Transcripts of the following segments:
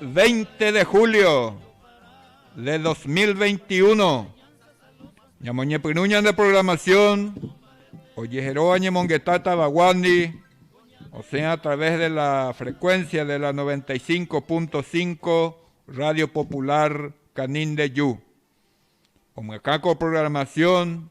Veinte de julio de dos mil veinti uno, Ñamoñepyrũ ñande programación ojeheróva ñemongeta tavaguándi, osẽ a través de la frecuencia de la noventa y cinco punto cinco Radio Popular Canindeyú. Omyakã ko programación.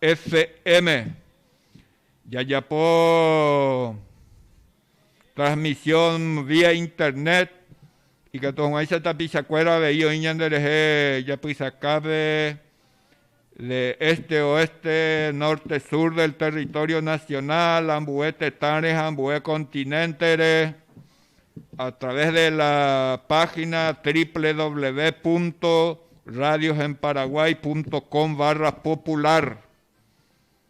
FM. Jajapo transmisión vía internet ikatu hag̃uáicha tapichakuéra avei oĩ ñanderehe japysakápe de este, oeste, norte, sur del territorio nacional, ambue tetãre ha ambue continente-re. a través de la página www.radiosenparaguay.com/popular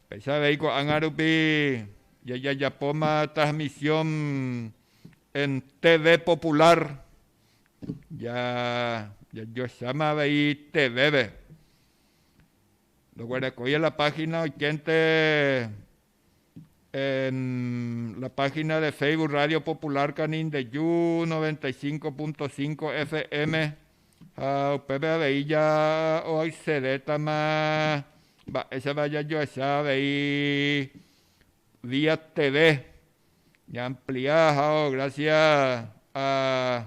péicha avei ko'ág̃a rupi jajajapóma transmisión en TV popular ja jajoecháma avei TV-pe ndoguerekói en la página oikénte En la página de Facebook Radio Popular Canindeyu 95.5 FM ha upépe avei ja oaccedétama mba'éichapa jajoecha avei vía TV ña amplia ha o gracias a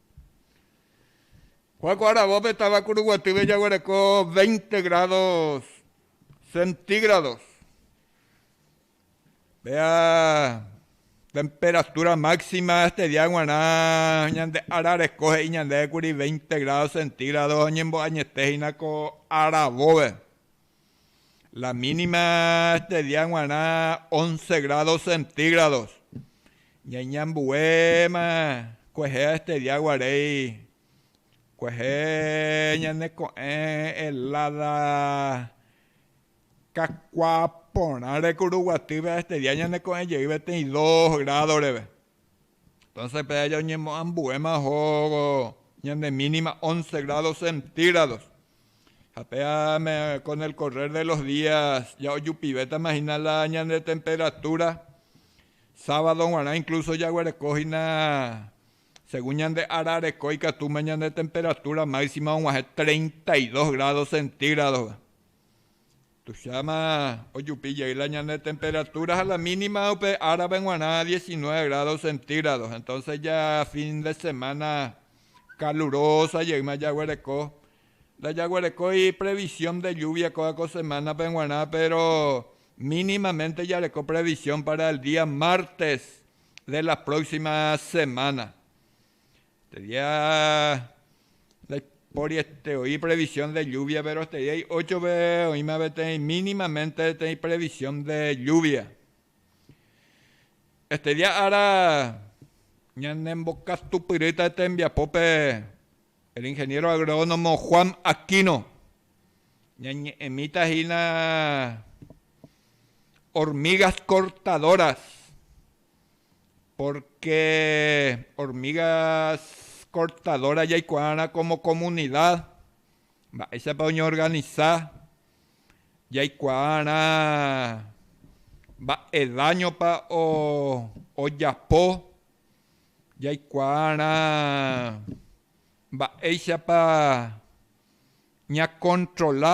Kuáko aravópe táva Kuruguatýpe jaguereko veinte grádos centígrados. Péa temperatúra máxima este día g̃uarã ñande ára reko he'i ñandéve kuri veinte grádos centígrados oñembo'añete hína ko aravópe. La mínima este día g̃uarã once grados centígrados. Ñaiñambuéma kuehe este día guarei, kuehe ñane ko'ẽ helada kakua porãre kuruguatýpe este día ñane ko'ẽ jeýpe teĩ dos grado reve. Entonces pe aja oñemoambuéma ohóvo ñande mínima once grados centígrados, ha pe ame con el correr de los días ya ojupivétama hína la ñande temperatura, sábado guarã incluso jaguereko hína según ñande ára reko ikatúma ñande temperatura máxima oguahẽ treinta y dos grados centígrados-pe. Tuicháma ojupi jey la ñane temperatura ha la mínima upe árape g̃uarã diecinueve grados centígrados, entonces ja fin de semana calurosa jeýma jaguereko. Ndajaguerekói previsión de lluvia kóva ko semana-pe g̃uarã, péro mínimamente jareko previsión para el día martes de la próxima semana. Sería ndaipóri este oĩ previsión de lluvia, péro esteri hay óchove oĩma peteĩ mínimamente peteĩ previsión de lluvia. Este día ára ñanembokatupyrýta tembiapópe el ingeniero agrónomo Juan Aquino, ñañe'ẽmíta hína hormigas cortadoras Pórke ormíga kortadóra jaikuaárã kómo komunida mba'éichapa oñeorganisa, jaikuaárã mba'e dáñopa ojapo, jaikuaárã mba'éichapa ñakontrola.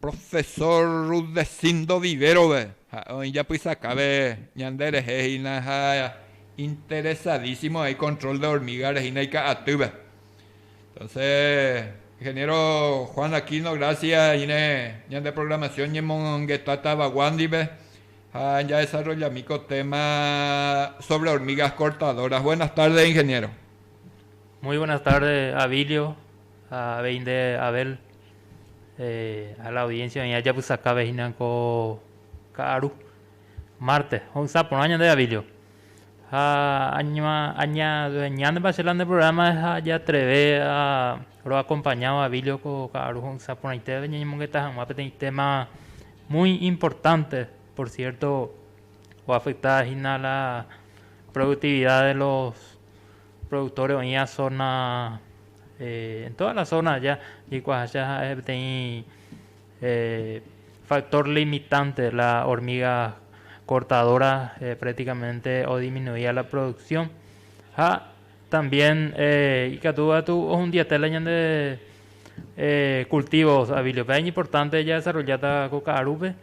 Profesor Rudecindo Viverove ha'e oĩ japysakáve ñande rehe hína ha interesadísimo ha icontrol de hormiga rehína ika'atýpe. Entonce Ingeniero Juan Aquino gracias añine ñande programación ñemongetátava guándipe ha ñadesarrollami ko téma sobre hormigas cortadoras. Buenas tardes, Ingeniero. Muy buenas tardes, Abilio. Ha avei nde Abel, ha la audiencia oĩva japysakáve hína ko ka'aru mártes ho'ysã porã ñande Davídjo. Ha añañañánepa che la nde programa ha ajatreve roakompaña Davídjo ko ka'aru ho'ysã porãitévape ñañemongeta hag̃ua peteĩ téma muy importante, por cierto, oafekta hína la productividad de los Productores oĩva zona, en todas las zonas allá, ikuaaháicha ha'e peteĩ factor limitante, la hormiga cortadora prácticamente odisminuía la producción, ha también ikatu katu ohundiete la ñande cultivos avilios, pe iñimportante jadesarrolláta ko ka'arúpe,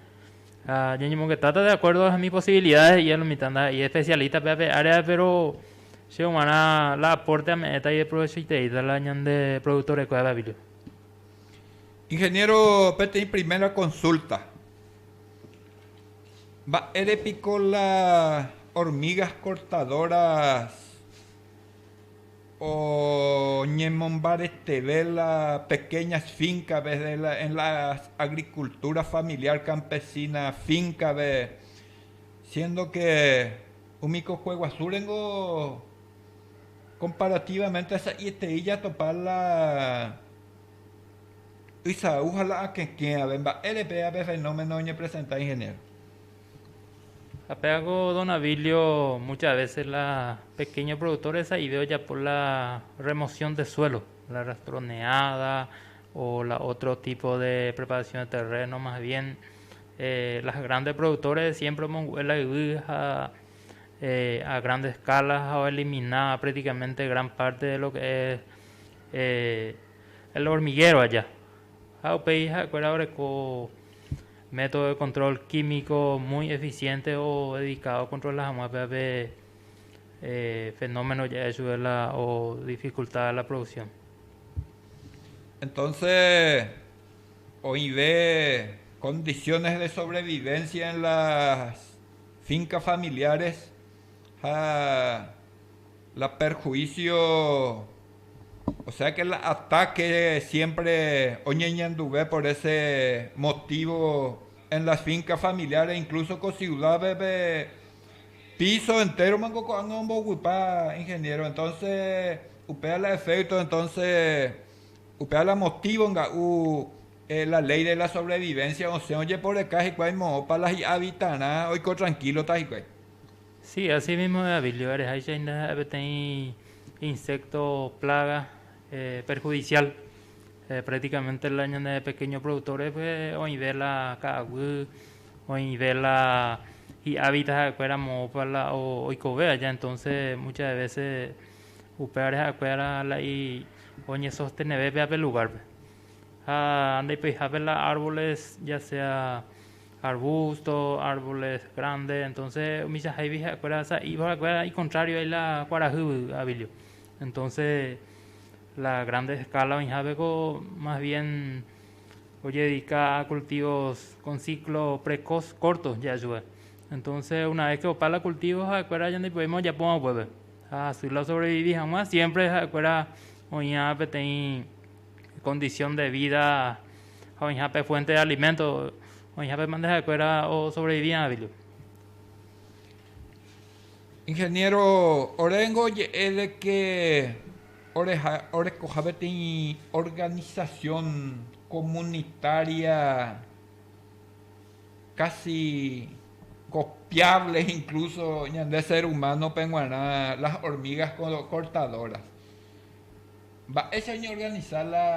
ha ñañemongetáta de acuerdo a hemi posibilidades, i'a lo mitãnda, i'a especialista-pe ape áreape, pero Che g̃uarã la apórte ame'ẽta ajeprovechoiteíta la ñande produktorekue avavire. Ingeniéro, peteĩ primera konsúlta. Mba'ére piko la hormigas cortadoras oñemombareteve la pequeñas finka en vez de en la agricultura familiar campesina fínkave siéndo ke Umi kokue guasúre ningo komparatívaménte sa'ieterei jatopa la ysau ha la akẽkẽrave. Mba'ére péva pe fenómeno oñepresenta ingeniéro? Ha pévako don Abilio mucha vése la pekéño produktórre sa'ive ojapo la remosión de suélo, la rastroneáda o la ótro tipo de preparasión de terréno mas bien Los grandes productores siempre omongu'e la yvy ha a grande escala ha oelimina prácticamente gran parte de lo que es el hormiguero aja. Ha upéi ha'ekuéra oreko método de control químico muy eficiente o dedicado ocontrola hag̃ua péva pe fenómeno ja'e chupe la o dificultad de la producción. Entonces Oĩve condiciones de sobrevivencia en las fincas familiares ha la perjuicio, o sea que la ataque siempre oñeñanduve por ese motivo en las fincas familiares, incluso ko ciudad-pe piso entero manko ko'ág̃a ombovypa, ingeniero, entonces upéva la efecto entonces. Upéva la motívo nga'u la léi de la sobrevivénsia osẽ ojeporeka hikuái moõpa la hi'a Vitarã oiko trankílota hikuái. Si, así mísmo de Avilio, ereháicha indaha'e peteĩ insékto plága perhudisiál. Práktikamente la ñane pekéño produktórpe oĩve la ka'aguy, oĩve la hi'a Vita ha'ekuéra moõpa la oikove aja, entónse mucha de vése. upévare ha'ekuéra la oñesosteneve péva pe lugárpe. Ha ndaipoihápe la árboles, ya sea arbusto, árboles grande, entonces umichahaivi ha'ekuéra sa'íva ha'ekuéra ikontrario ai la kuarahy avilio. Entonces la grande escala oĩhápe ko más bien ojedika a cultivos con ciclo precoz corto ja'e chupe. Entonces una vez que opa la cultivo ha'ekuéra ñandepovéima ojapóva upépe. Ha Sula osovrevivi hag̃ua, siémpre ha'ekuéra oĩha peteĩ kondisión de vída ha oĩha pe fuénte de aliménto, oĩhápema nde ha'ekuéra osovrevivi avei. Ingeniéro, oréngo oje'e de ke orekoha peteĩ organisasión komunitária. Kasi kopiáble inklúso ñande sér umánope g̃uarã las ormígas kortadóras. Mba'éicha oñeorganisa la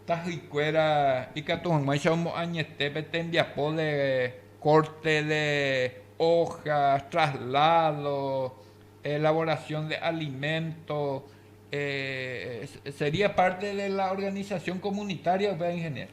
tahýikuéra ikatu hag̃uáicha omoañete pe tembiapo de kórte de óha, trasládo, elaborasión de aliménto, sería párte de la organisasión komunitária upe, ingeniéro.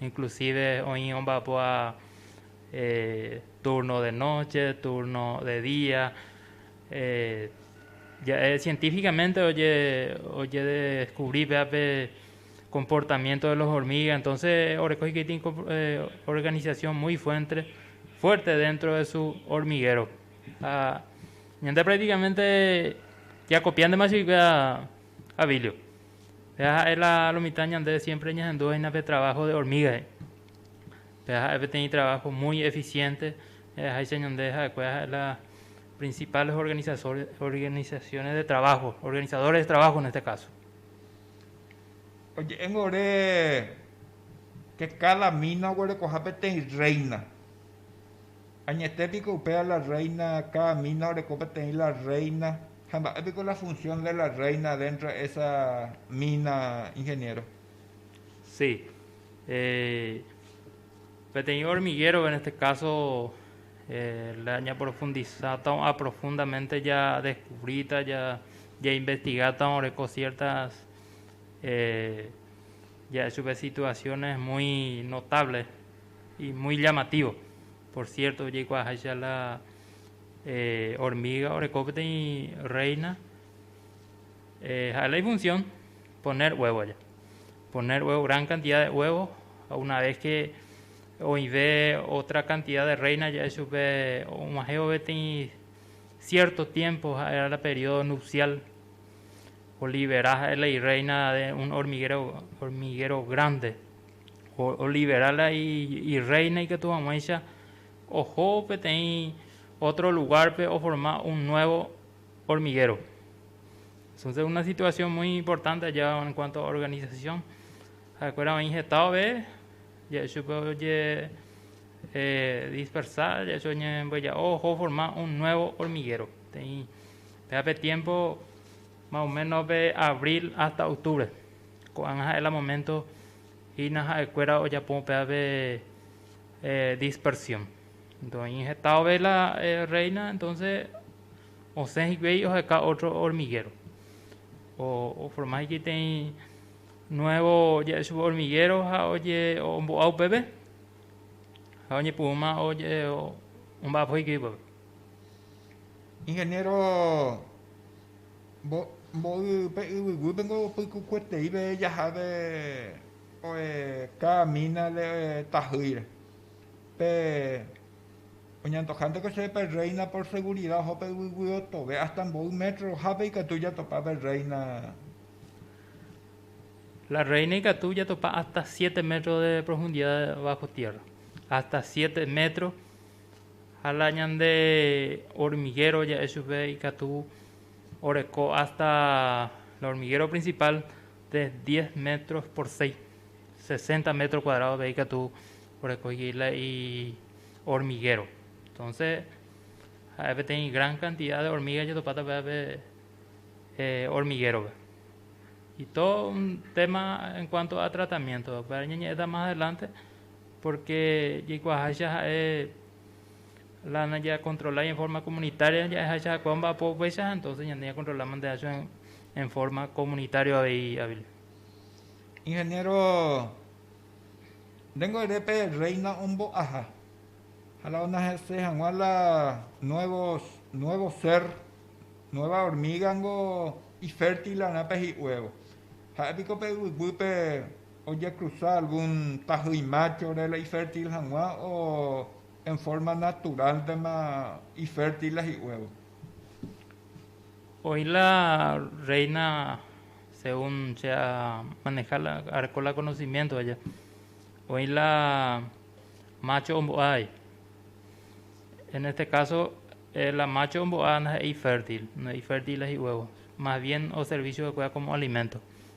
Inclusive oĩ omba'apo ha turno de noche, turno de día, ja'e científicamente ojedescubrí pévape comportamiento de los hormiga, entonce oreko hikuái organización muy fuentre, fuerte dentro de su hormiguero ha ñande practicamente jakopiántema chupekuéra Abilio. Péva ha'e la lo mitã ñande siémpre ñahendúvaina pe traváho de ormígape. Péva ha'e peteĩ traváho múi efisiénte, aheháicha ñande ha'ekuéra ha'e la prinsipáles organisasores, organisasiónes de traváho, organizadores de traváho en este káso. Oje'éngo ore ke káda mína oguerekoha peteĩ rréina. Añete piko upéva la rréina, káda mína oreko peteĩ la rréina, ha mba'e piko la funsión de la rréina déntro de ésa mína, ingeniéro? Si. Peteĩ ormigéro, en este káso ñaprofundisáta o'a profundamente jadeskuvríta, jainvestigáta oreko siértas ja'e chupe situasiónes muy notáble. Y muy llamativo, por cierto, ojeikuaaháicha la hormiga oreko peteĩ reina, ha'e la ifunción poner huevo aja, poner huevo, gran cantidad de huevo, ha una vez que oĩve otra cantidad de reina ja'e chupe og̃uahẽvo peteĩ cierto tiempo, ha'e la periodo nupcial, olibera ha'e la ireina de un hormiguero, hormiguero grande. olivera la irréina ikatu hag̃uáicha oho peteĩ ótro lugárpe oforma un nuévo ormiguéro. Entonse una situasión mui importante aja en kuanto a organisasión, ha'ekuéra oĩ heta ove, ja'e chupe oje eh, dispersa, ja'e chupe oñembyeja'o oho oforma un nuevo hormiguero. Te'ĩ péape tiempo más o menos pe abril hasta octubre. Ko'ág̃a ha'e la moménto hína ha'ekuéra ojapo upe ápe dispersión. Ndoĩ heta ovéla rréina, entónse osẽ hikuái oheka ótro ormigéro. Oforma hikueiteĩ nuévo ja'e chupe ormigéro ha ombo'a upépe ha oñepyrũma omba'apo hikuái upépe. Ingeniero, mboy pe yvyguýpe niko pykukueteíve jahápe oe káda mínare oe tahýire. Pe oñantojánteko chéve pe rréina por segurida oho pe yvyguy otove, hásta mboy métro ohápe ikatu jatopa pe rréina. La rréina ikatu jatopa hásta siete métro de profundida bájo tiérra. Hásta siete métro. Ha la ñande hormiguero ja'e chupe ikatu oreko hasta la hormiguero principal de diez metros por seis, sesenta metros cuadrados pe ikatu orekoigue la hormiguero. Entonces ha'e peteĩ gran cantidad de hormiga jetopáta upéva pe hormiguérope. Y todo un tema en cuanto a tratamiento, upéva ñañe'ẽta más adelante. Pórke jaikuaaháicha ha'e la najakontrolái en fórma komunitária ja'eháicha ha'ekuéva mba'apo upéicha, entónse ñande ñakontrola mante hacho en fórma komunitárioa avei avei. Ingeniéro, nde ngo'ere pe Rréina ombo'aha ha la oñeha'ãse hag̃ua la nuévo, nuevo sér, nueva hormíga niko ifértilra'erã pe hi'uévo. Ha'e piko pe yvyguýpe. Ojekruza algún tahýi máchore la ifértil hag̃ua o en fórma naturálntema ifértil la hi'uévo. Oĩ la rréina según che amaneha la areko la konosimiénto aja, oĩ la mácho ombo'ái. En este káso, la mácho ombo'a ndaha'éi ifértil, ndaha'éi ifértil la hi'uévo, más bien oservísio va'ekue komo aliménto.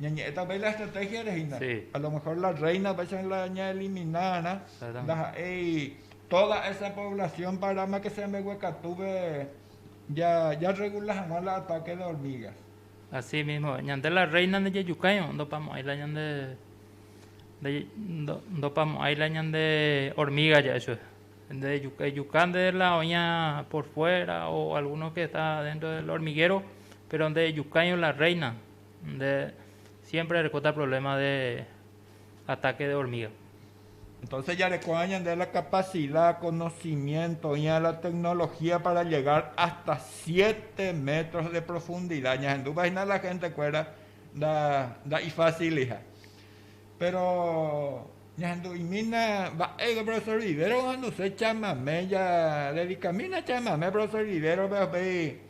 Ñañe'ẽta pe la estratégia rehe hína. A lo mejor la Reina péicha la ñaelimina va'erã, ndaha'éi tóda esa poblasión paráma ke che ambeguekatúpe jarregula hag̃ua la atáke de ormíga. Así mísmo, ñande la Reina ndejejukái, ndopamo'ãi la ñande, ndopamo'ãi la ñande ormíga ja'e chugui. Ejuka nde la oĩva por fuera o algúno ke esta déntro del ormiguero, péro ndejejukái la Reina. Nde siémpre erekóta provléma de atáke de ormíga. Entónse jarekoha ñande la kapasida, konosimiénto oĩva la teknolohía pára llegar hásta siete métros de profundida. Ñahendúpa hína la hentekuéra nda'ifásiliha. Péro ñahendu'imína mba'éiko profesór Rivero ohenduse chamame, jadedikamína chamame profesór Rivérope upéi.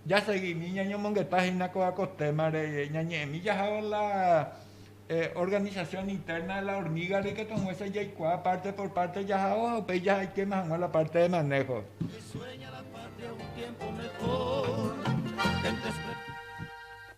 Jasegimi ñañomongeta hína ko témare, ñañe'ẽmi jahávo la organización interna de la hormiga reikatuhag̃uáicha jaikuaa párte por párte jahávo ha upéi jahaikéma hag̃ua la párte de maného.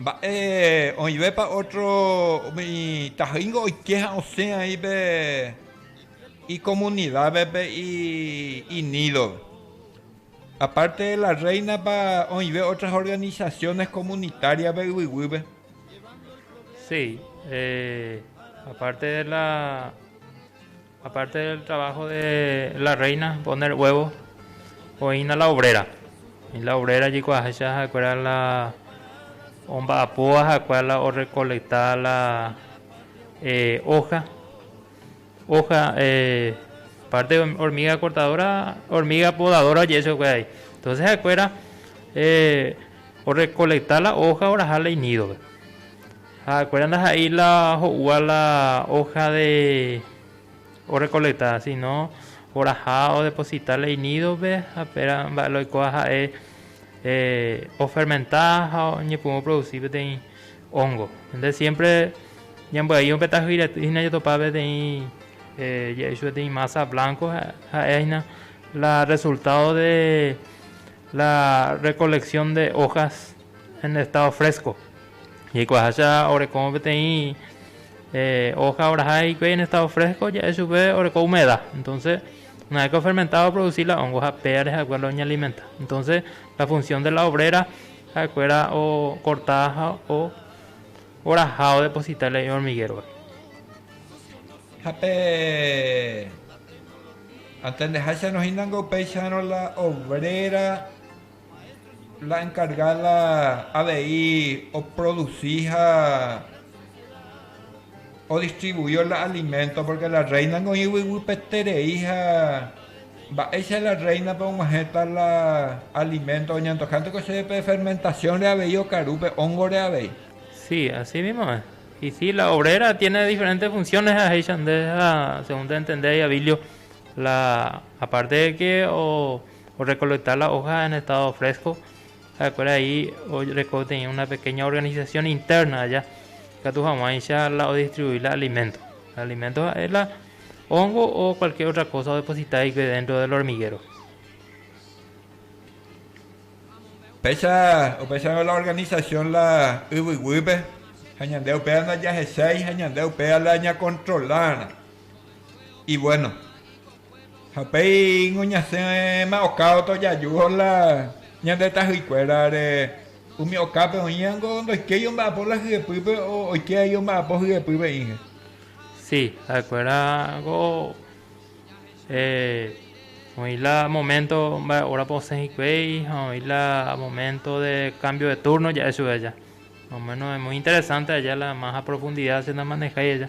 Mba'e oĩvépa ótro umi tahýingo oike ha osẽ aĩ pe ikomunidápe, pe inídove. Apárte de la Rréinapa oĩve ótras organisasiónes komunitáriape yvy guýpe. Si, apárte de la. Aparte del trabajo de la reina poner huevo, oĩna la obrera. La obrera jekuaaháicha ha'ekuéra la omba'apóva ha'ekuéra la orrecoleta la hoja, hoja aparte hormiga cortadora, hormiga podadora oje'e chupekuéra ahí. Entonces ha'ekuéra orrecoleta la hoja oraha la inídope. Ha'ekuéra ndaha'éi la ho'úva la ója de orrekolekta, síno oraha odeposita la inídope, ha péra mba'e la oikóva ha'e ofermenta ha oñepyrũ oprodusi peteĩ óngo. Nde siémpre ñambyai upe tajy rety hína jatopa peteĩ jey chupe peteĩ mása blánko, ha'e hína la rresultádo de la rrekoleksion de ójas. en estado fresco. Jaikuaaháicha oreko peteĩ hoja oraha hikuái en estado fresco ja'e chupe oreko humedad. Entonces, una vez que ofermenta oproduci la hongo ha pévare ha'ekuéra la oñealimenta. Entonces, la función de la obrera ha'ekuéra ocorta ha oraha odeposita la hormiguero. Ha pe antendeháicha nohínango upéicharõ la obrera la encargada avei oproduci ha odistribui la alimento, porque la reina oĩ yvyguýpeterei ha mba'éicha la réinape og̃uahẽta la alimento, oñandukánteko chéve pe fermentaciónre avei okaru, pe hóngore avei. Si, asi mímo es. Y si, la obrera tiene diferente funciones ha jeicha nde ha según te'entende Abilio, la aparte de que o Orrecoleta la hoja en estado fresco, ha'ekuéra he'i oreko peteĩ una pequeña organización interna aja ikatu hag̃uáicha la odistribui la alimento. La alimento ha'e la hongo o cualquier otra cosa odeposita hikuái dentro del hormiguero. Péicha opensárõ la organización la yvy guýpe ha ñande upéva ndajahechái ha ñande upéva la ñakontrolárã. Y bueno. Ha upéingo ñasẽma okávo tojajúvo la ñande tahýikuérare, umi okápe oĩango ndoikéi omba'apo la hyepýpe oike ai omba'apo hyepy ve'ĩhe. Si, ha'ekuérango oĩ la moménto mba'e órape osẽ hikuái ha oĩ la moménto de kámbio de túrno ja'e chupe aja. Más o méno muy interesánte aja la más a profundida che namanehái aja.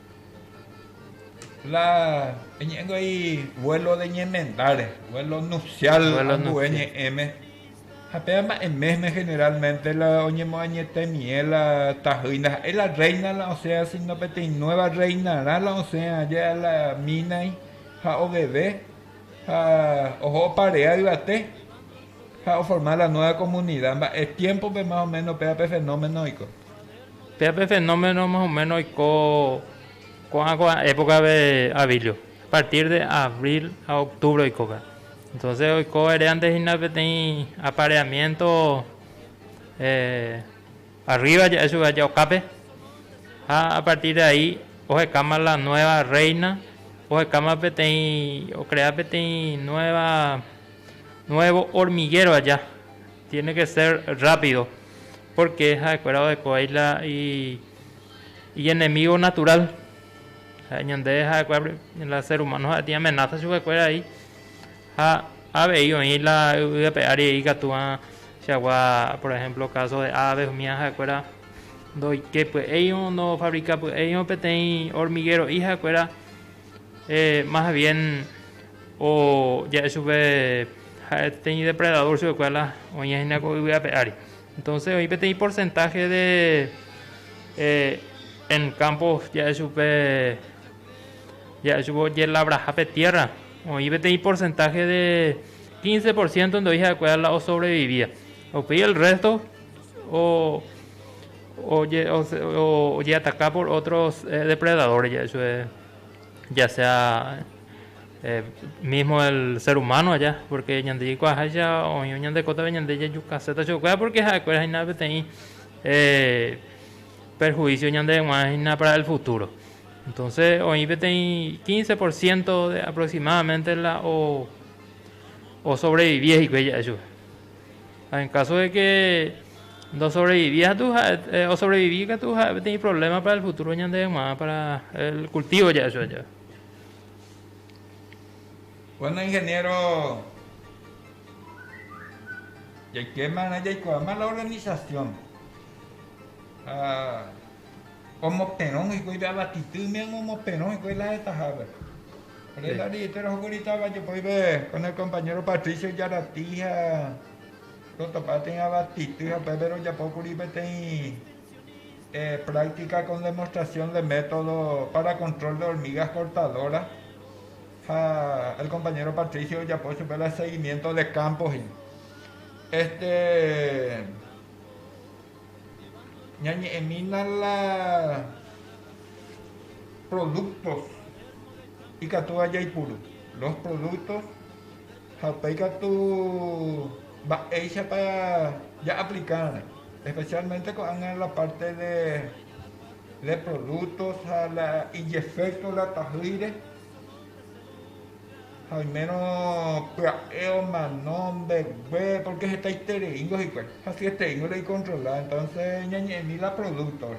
La eñe'ẽngo ei vuelo de ñemendáre, vuelo nupcial ambue ñe'ẽme. Ha péva mba'e mésme generalmente la oñemoañetemie la tahýi ndaha'éi la reina la osẽ, sino peteĩ nueva reinarã la osẽ aje a la mínai ha oveve ha oho oparea yvate ha oforma la nueva comunidad. Mba'e tiémpope más o méno péva pe fenómeno oiko? Péa pe fenómeno más o menos oiko ko'ã ko época-pe avílio, a partir de abril ha octubre oikóva. Entonces oiko ere andehína peteĩ apareamiento arriba ja'e chupe aja okápe, ha a partir de ahí ohekáma la nueva reina, ohekáma peteĩ, ocrea peteĩ nueva, nuevo hormiguero aja. Tiene que ser rápido porque ha'ekuéra ohekovai la ienemigo natural ha ñande ha'ekuéra la ser humano ha'etĩ amenaza chupekuéra ai ha avei oĩ la yvy ape ári he'i katu'ã chagua por ejemplo caso de aves umíva ha'ekuéra ndoike py'éirõ ndofabrika py'éirõ peteĩ hormiguero'i ha'ekuéra más bien O ja'e chupe ja'e teĩ depredador chupekuéra la oĩha hína ko yvy ape ári. Entonces oĩ peteĩ porcentaje de eh, en campo ja'e chupe ja'e chupe ojelabraha pe tierra, oĩ peteĩ porcentaje de 15 por ciento ndoi ha'ekuéra la osobrevivía. Upéi el resto o oje, o, o, ojeataka por otros eh, depredadores ja'e chupe. ya sea mismo el ser humano aja, porque ñande jaikuaaháicha oĩvo ñande kótape ñande jajukaséta chuguikuéra, porque ha'ekuéra hína peteĩ perjuicio ñandeheg̃uarã hína para el futuro. Entonces oĩ peteĩ quince por ciento de aproximadamente la o, o sobrevivi hikuái ja'e chupe. Ha en káso de ke ndosobrevivi katu ha'e, osobrevivi katu ha'e peteĩ provléma pára el futúro ñande hag̃ua, pára el kultívo ja'e chupe jave. Bueno, ingeniéro, jaikémarã jaikuaáma la organisasión. Ha. Omoperõ hikuái pe abatitý imeme omoperõ hikuái la hetahápe. Ore la directora ohókuri táva jepoive con el compañero Patricio Yarati ha rotopa peteĩ abatitý ha upépe rojapókuri peteĩ eh, práctica con demostración de método para control de hormigas cortadoras ha el compañero Patricio ojapo chupe la seguimiento de campo he'i. Este Ñañe'ẽmína la productos ikatúva jaipuru, los productos ha upéi katu mba'éichapa ja aplicárõ, especialmente ko'ág̃a la parte de productos ha la ijeefecto la tahýire. Ha oimérõ pya'e omano mbegue, pórke hetaitereíngo hikuái, ha siesteíngo reikontrola, entónse ñañe'ẽmi la prodúktope.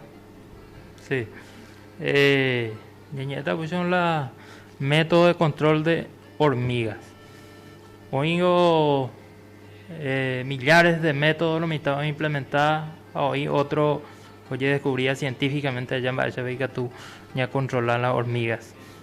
Si. Ñañe'ẽta upéicha con la método de control de hormigas. Oĩngo millares de métodos mitã oimplementa ha oĩ ótro ojedescubríva científicamente aja mba'éichapa ikatu ñakontrola la hormigas.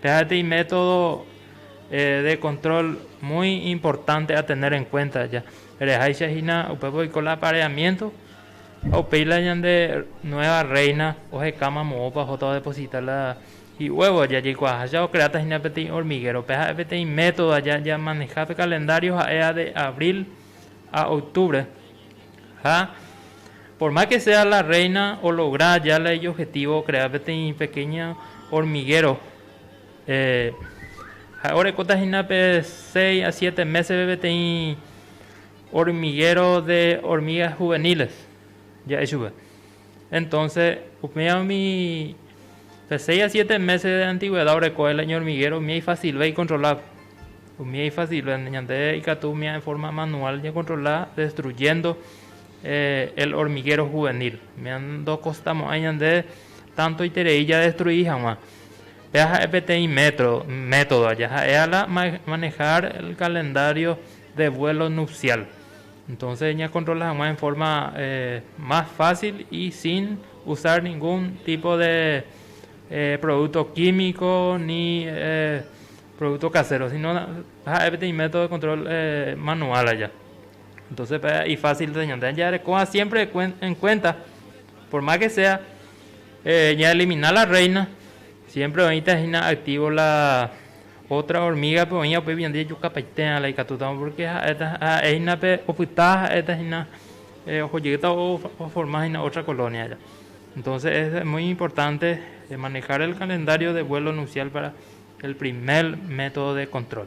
Pehaete imétodo de control muy importante a tener en cuenta ya reháicha hína upépe oiko la apareamiento ha upéi la ñande nueva reina ohekáma moõpa ohóta odeposita la ihuevo ya jaikuaaháicha ocreáta hína peteĩ hormiguero pe ha'e peteĩ método aja jamaneja pe calendario ha'e a de abril a octubre Ha por más que sea la reina ologra ya la ijobjetivo okrea peteĩ pequeño hormiguero. Ha'e orekóta hína pe seis a siete méspe peteĩ hormiguero de hormigas juveniles ja'e chupe. Entonce, upérõ umi pe seis a siete meses de antigüedad oreko el año hormiguero, umía ifacilve icontrola, umía ifacilve, ñande ikatu umía en forma manual ñacontrola destruyendo el hormiguero juvenil, umía ndokostamo'ãi ñande tanto iterei jadestrui hag̃ua, péva ha'e peteĩ metro, método, jaha'éva la manejar el calendario de vuelo nupcial. Entonces ñakontrola hag̃ua en forma más fácil y sin usar ningún tipo de producto químico ni producto casero, sino ja'e peteĩ método de control manual aja. Entonces y fácil de ñande jarekóva siempre en cuenta por más que sea ña eliminar la reina siempre oĩta hína activo la Ótra hormígape oĩva upéi ñande jejukapaitérã la ikatútama, pórke ha'éta ha'e hína pe opyta, ha'éta hína oho jeýta oforma hína ótra kolónia aja. Entónse es mui importante manehár el kalendario de vuelo nusiál pára el primer método de kontrol.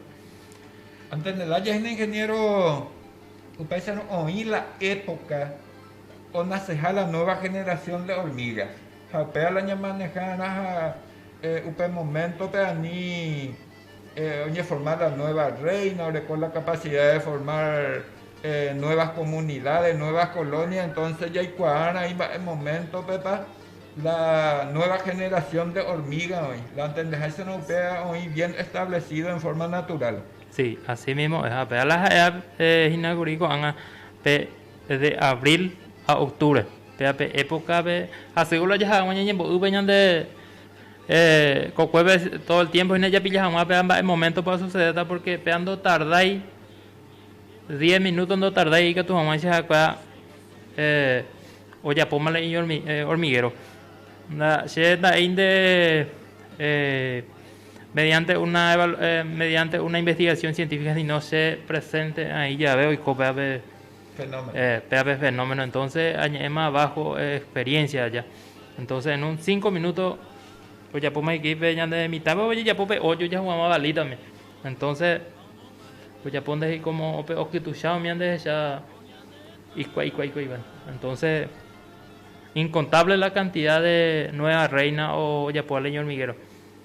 Antendela jeýna ingeniéro upéicharõ oĩ la époka onaseha la nueva generación de hormiga. Ha upéva la ñamanejárã ha upe moméntope ani oñeforma la nueva rréina, oreko la kapasida de formar nuevas komunidades, nuevas kolónias, entónse jaikuaárã imba'e moméntopepa la nueva generasión de hormíga oĩ. La entendeháichana upéva oĩ bien establecido en forma natural. Si, así mismo es. Ha upéva la ha'eha hína kuri ko'ág̃a pe. de abril ha octubre péva pe época pe hasy'o la jaha hag̃ua ñañembo'ýpe ñande kokuépe todo el tiempo hína japilla hag̃ua péva mba'e momento pa osucedéta porque péva ndotardái diez minutos ndotardái ikatu hag̃ua che ha'ekuéva ojapóma la iño hormiguero che nda'éi nde mediante una mediante una investigación científica si no che presente aĩ jave oiko péva pe Fenómeno. Eh, péape fenómeno. Entonces, añe'ẽma bajo experiencia aja. Entonces, en un 5 minutos, ojapóma equipe ñande mitãpe ojejapo pe hoyo jahuguama vali también. Entonces, ojapo ndehi como pe okytucha omiande ya ikua ikua ikua ikua. Entonces, incontable la cantidad de nueva reina o ojapo ale ñormiguero.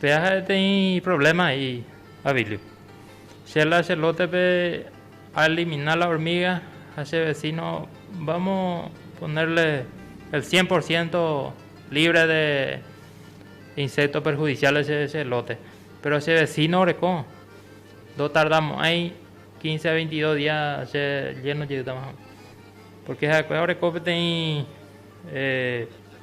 Péa ha'e teĩ provléma he'i Avilyu. Che la che lótepe aelimina la ormíga ha che vesíno vámo ponerle el cien por ciénto lívre de insékto perhudisiáles che lóte. Péro che vesíno oreko, ndotardamo'ãi kínse a veintidos día che lléno jeýtama hag̃ua. Pórke ha'ekuéva oreko peteĩ.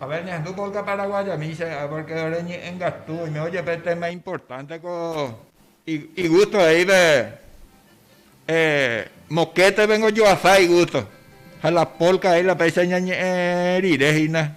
A ver, ñahendu polka paraguayamícha, porque ore ñe'ẽngatu, oimévo jepe téma importante ko igusto he'ípe, mokéte vengo yo a sa igusto, ha la polka he'íla péicha ñañe'ẽ rire hína.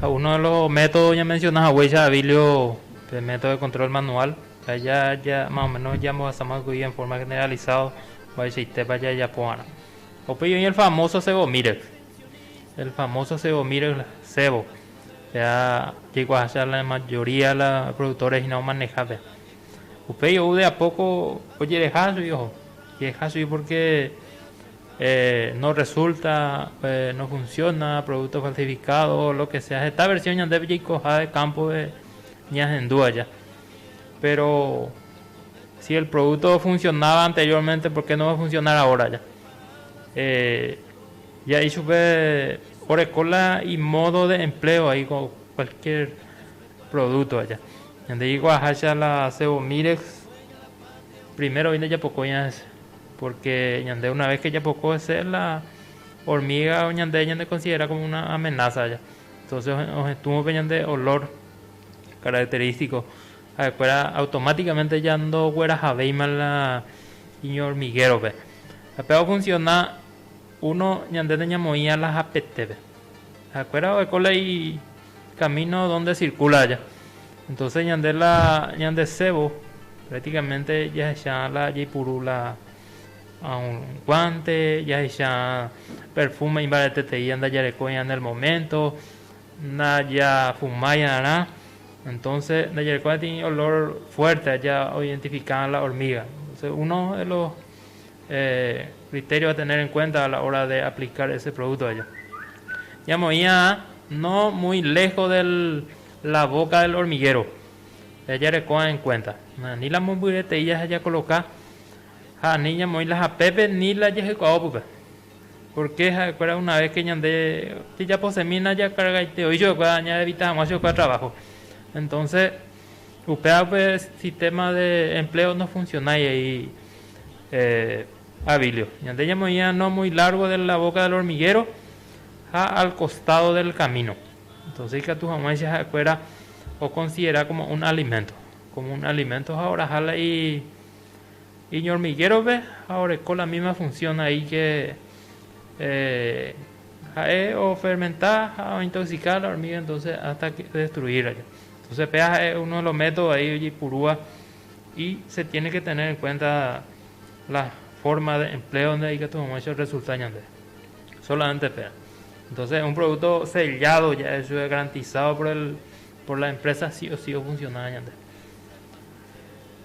Ha uno de los métodos ñamensiona haguéicha Abilio pe método de control manual, ha ya, ya más o menos ñambohasa moikũi en forma generalizado mba'eichaitépa jajapóvarã. Upéi oĩ el famoso Cebomirex, el famoso Cebomirex, la cebo, pea jaikuaaháicha la mayoría de la productores hína omaneja pea. Upéi ou de a poco ojereha chugui oho, ojereha chugui porque Norresulta, nofunsiona, provúkto falsifikádo, lo ke sea. Heta versión ñandépe jaikoha kámpope ñahendu aja. Péro si el provúkto ofunsionáva anteriórmente, por ke no va a funsionar ahora aja? Ja'i chupe oreko la imódo de empleo ai ko kualkiér provúkto aja. Ñande jaikuaaháicha la Sevomirex, primero vi ndajapokóiva. Pórke ñande una ves ke japoko hese, la hormíga ñande ñanekonsidera kómo una amenása aja. Entónse ohetũvo pe ñande olór kararakterítiko, ha'ekuéra automátikaménte jandoguerahavéima la iñohormiguérope. Ha péva ofunsiona uno ñande nañamoĩva la hapetépe. Ha'ekuéra oheko la camino donde circula aja. Entonces ñande la ñandesévo prácticamente jahecha la jaipuru la guante, jahecha perfume imbareteteíva ndajarekóirã en el momento, ndajafumaiarã, entonces ndajarekóirã tei olor fuerte aja oidentifica la hormiga. Entonces uno de los Criterio a tener en cuenta a la hora de aplicar ese producto allá. Ya moía no muy lejos de la boca del hormiguero. Ya ya recoa en cuenta. Ni la momburete y ya ya coloca. Ja ni ya moí la japepe ni la ya jecua opupe. Porque ja cuera una vez que ñande ya ya posemina ya carga y te oí yo cua ya evita guacho cua trabajo. Entonces. Upévape sistema de empleo nofuncionái he'i Abilio. Ñande ñamoĩva no muy largo de la boca del hormiguero ha al costado del camino. Entonce ikatu hag̃uáicha ha'ekuéra oconsidera como un alimento. Como un alimento ha oraha la iñormiguérope ha oreko la misma función ahí que ha'e ofermenta ha ointoxica la hormiga entonces hasta destruirla. Entonces péa ha'e uno de los métodos ahí ojeipurúva y se tiene que tener en cuenta la forma de empleo donde ikatu hag̃uáicha orresulta ñande. Solamente péa. Entonces un producto sellado ya eso es garantizado por el por la empresa sí o sí ofunciona ñande.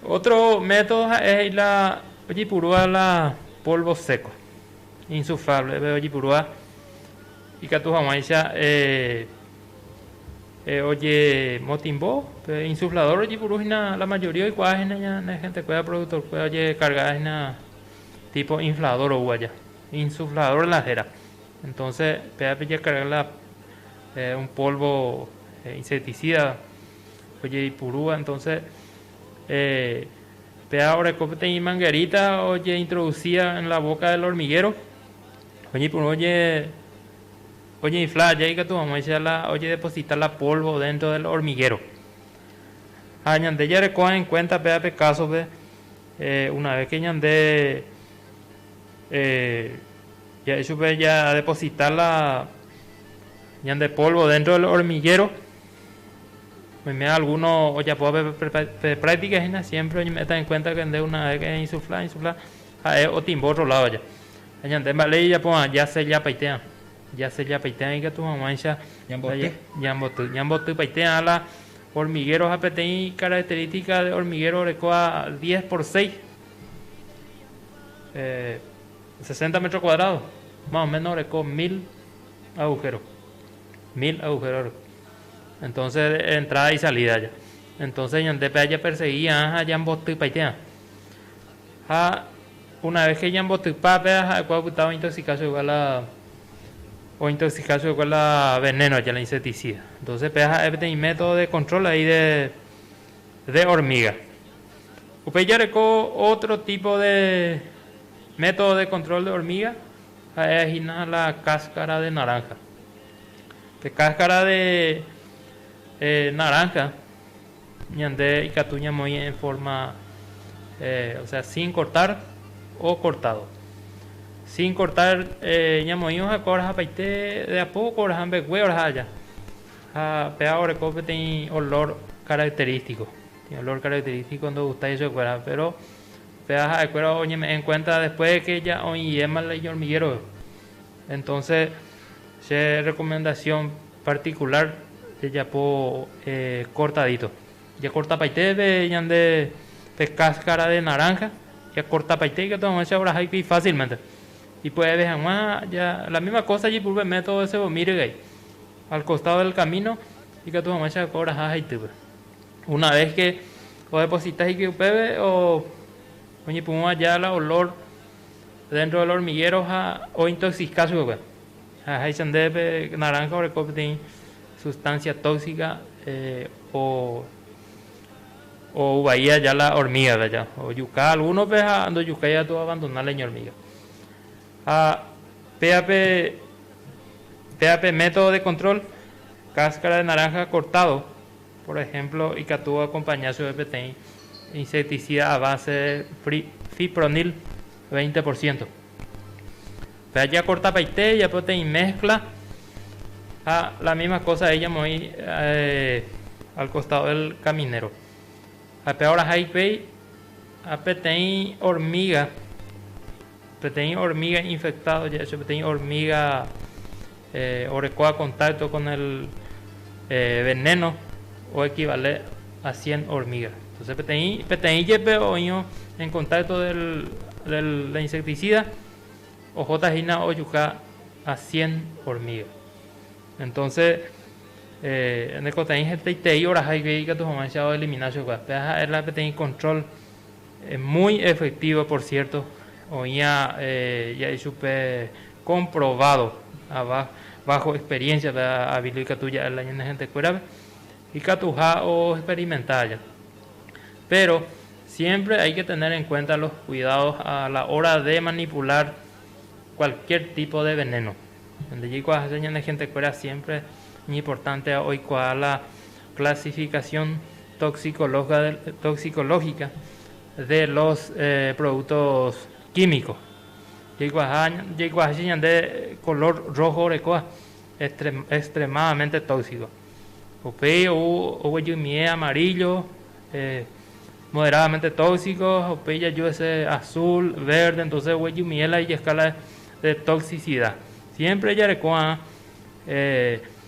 Otro método ha'e he'i la ojeipurúva la polvo seco, insuflable, pe ojeipurúva ikatu hag̃uáicha eh, Ojemotimbo pe insuflador ojepuru hína la mayoría oikuaa hína ñane gentekuéra productorkuéra ojekarga hína tipo inflador ou aja insuflador la héra entonce péva pejekarga la un polvo insecticida ojeipurúva entonce péva oreko peteĩ manguerita ojeintroducía en la boca del hormiguero oñeipuru oje Oñeinfla aja ikatu hag̃uáicha la ojedeposita la pólvo déntro del hormiguéro. Ha ñande jarekóva enkuénta péva pe kásope, una ves ke ñande ja'e chupe jadeposita la ñande pólvo déntro del hormiguéro, oime algúno ojapóva pe práktika hína, siémpre oñeme'ẽta enkuénta ke nde una ves ke einsulfla, einsulfla. Ha'e otimbo otro ládoja. Ha ñande mba'e ijapova'erã jasellapaitéva. Jasellapaitéva ikatu hag̃uáicha ñamboty. Ñambotypaitéva la hormiguero ha peteĩ característica de hormiguero orekóva diez por seis, sesenta metro cuadrado, más o menos oreko mil agujero. Mil agujero oreko. Entonces de entrada y salida ya. Entonces ñande pea japersegui va'erã ha jambotypaitéva. Ha una vez que ñambotypa péva ha'ekuéra opytávo ointoxica chuguikuéra la ointoxica chuguikuéra la veneno ya la insecticida. Entonces péva ha'e peteĩ método de control ahí de de hormiga. Upéi jareko otro tipo de método de control de hormiga ha'e hína la cáscara de naranja. Pe cáscara de naranja. Ñande ikatu ñamoĩ en forma o sea sin cortar o cortado. Sin cortar ñamoĩ oha'ekua oraha paite de a poco oraha mbegue oraha aja. Ha péva oreko peteĩ olor característico. Olor característico ndogustáiva chupekuéra péro péva ha'ekuéra oñeme'ẽ en cuenta después de que ya oĩ iéma el hormiguero. Entonce che recomendación particular jejapo cortadito, jakortapaiteve ñande pe cáscara de naranja, jakortapaite ikatu hag̃uáicha orahaikui fácilmente, ipue'eve hag̃ua ja la misma cosa jaipurúpe método de Sebomín regay, al costado del camino ikatu hag̃uáicha oiko oraha haitýpe, una vez que odeposita hikuái upéve oñepyrũva ja la olor dentro del hormiguero ha ointoxica chupekuéra ha háicha nde pe naranja oreko peteĩ sustancia tóxica ouvai aja la hormigape aja, ojuka algunope ha ndojukái katu oabandona la iñormiga. Ha péape, péape método de control, cáscara de naranja cortado. Por ehémplo, ikatúva oakompaña chupe peteĩ insecticida a base de fipronil veinte por ciento. Pe ajakortapaite ejapo peteĩ mézcla ha la misma cosa he'i amoĩ al costado del caminero. Ha pe aorãha hikuái ha peteĩ hormiga. Peteĩ hormíga infektádo ja'e che peteĩ hormíga oreko a kontákto kon el venéno oekivale a sien hormíga. Entónse peteĩ, peteĩ jepe oĩvo en kontákto del, de la insektisída, ohóta hína ojuka a sien hormíga. Entónse ñanekotevẽi hetaitei oraha ivei ikatu hag̃uáicha oelimina chugua. Péa ha'e la peteĩ kontról. Muy efectivo por cierto, oĩva ja'e chupe comprobado ava bajo experiencia pe avilo ikatu ja'e la ñane gentekuérape ikatuha o experimenta aja. Pero siempre hay que tener en cuenta los cuidados a la hora de manipular cualquier tipo de veneno. Nde jaikuaa hese ñane gentekuéra siempre iñimportante oikuaa la clasificación. toxicológica de los productos químicos jaikuaaha jaikuaaháicha ñande color rojo orekóva extremadamente tóxico upéi ou oguejymie amarillo moderadamente tóxico ha upéi jaju ese azul, verde entonces oguejymie la ijescala de toxicidad siempre jarekóva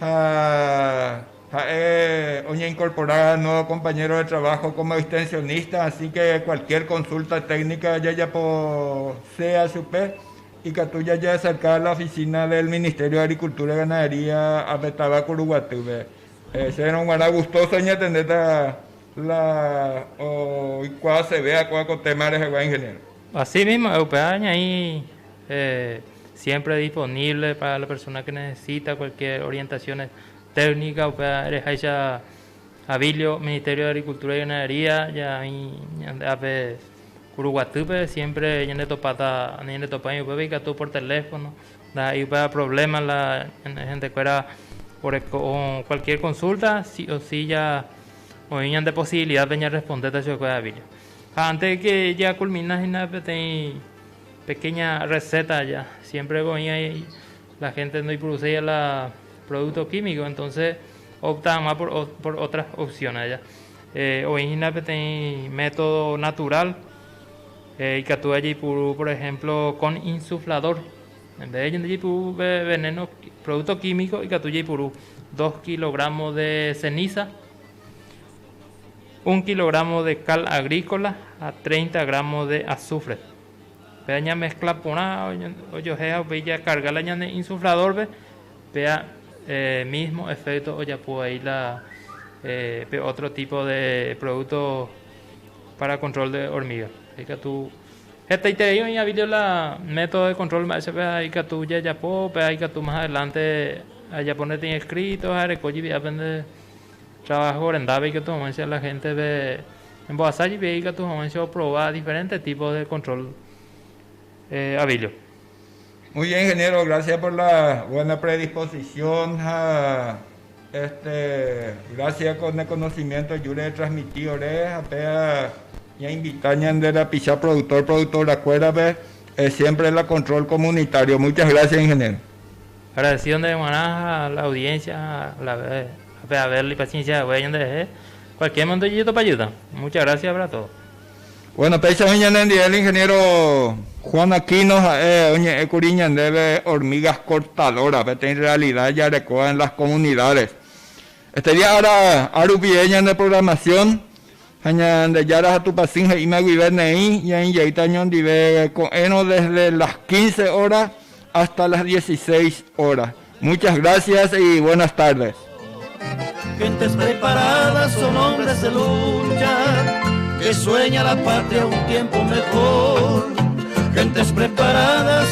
Ha ha'e oñeinkorpora nuévo kompañéro de traváho kómo extensionista, asíke kualkiér konsúlta téknika jajapo sea chupe, ikatu jajeaserka la ofisína del Ministério de Agrikultúra y Ganadería ape táva Kuruguatýpe. Chérõ g̃uarã gustóso añetentéta la oikuaaseve ha'ekuéra ko téma rehegua, ingeniéro. Asi mismo upéva ñaĩ siempre disponible para la persona que necesita cualquier orientación técnica, upéva ereháicha Abilio, Ministerio de Agricultura y Ganadería, ñaĩ ñande ápe Kuruguatýpe, siempre ñanetopáta, ñanetopái upépe ikatu por teléfono, ndaha'éi upéva problema, la gentekuéra oreko cualquier consulta si o si ya oĩ ñande posibilidad-pe ñarrespondéta chupekuéra Abilio. Ha antes de que ya culmina hina peteĩ pequeña receta ya, siempre ko oĩ ahí la gente ndoipuruséiva la producto químico, entonces opta hag̃ua por otras opciones ya. Oĩ hina peteĩ método natural, ikatu jaipuru por ejemplo con insuflador, en vez de ñande jaipuru veneno, producto químico ikatu jaipuru dos kilogramos de ceniza, Un kilogramo de cal agrícola ha 30 gramos de azufre. Pea ña mezcla porã ojoheha upéi ja carga la ñane insuflador pe, pea mismo efecto ojapo ahí la pe otro tipo de producto para control de hormiga. Ikatu hetaiterei oĩ avilio la método de control mba'e che pea ikatu jajapo, pea ikatu mas adelante ajapone teĩ escrito ha areko jivi'ápe nde. Trabajo rendápe ikatu hag̃uáicha la héntepe embohasa jepe ikatu hag̃uáicha oprova diferénte típo de kontrol avíllo. Muy bien, ingeniero. Gracias por la buena predisposición ha este gracias con el conocimiento júre detransmiti ore ha péva ña invita ñande rapicha productor, productora kuérape siempre la control comunitario. Muchas gracias, ingeniero. Agradecido nde g̃uarã ha la audiencia ha la pe haber li paciencia hague ñande rehe, cualquier momento jajetopajýta. Muchas gracias para todo. Bueno, péicha oĩ ñane ndive el ingeniero Juan Aquino, ha'e oñe'ẽ kuri ñandéve hormigas cortadoras, peteĩ realidad jarekóva en las comunidades. Estudia ára rupive ñane programación ha Ñandejára ha Tupã Syn he'íma guive neĩ ñaĩjeýta ñondive ko'ẽrõ desde las quince hora hasta las dieciséis hora. Muchas gracias y buenas tardes. Gentes preparadas son hombres de lucha Que sueña la patria un tiempo mejor Gentes preparadas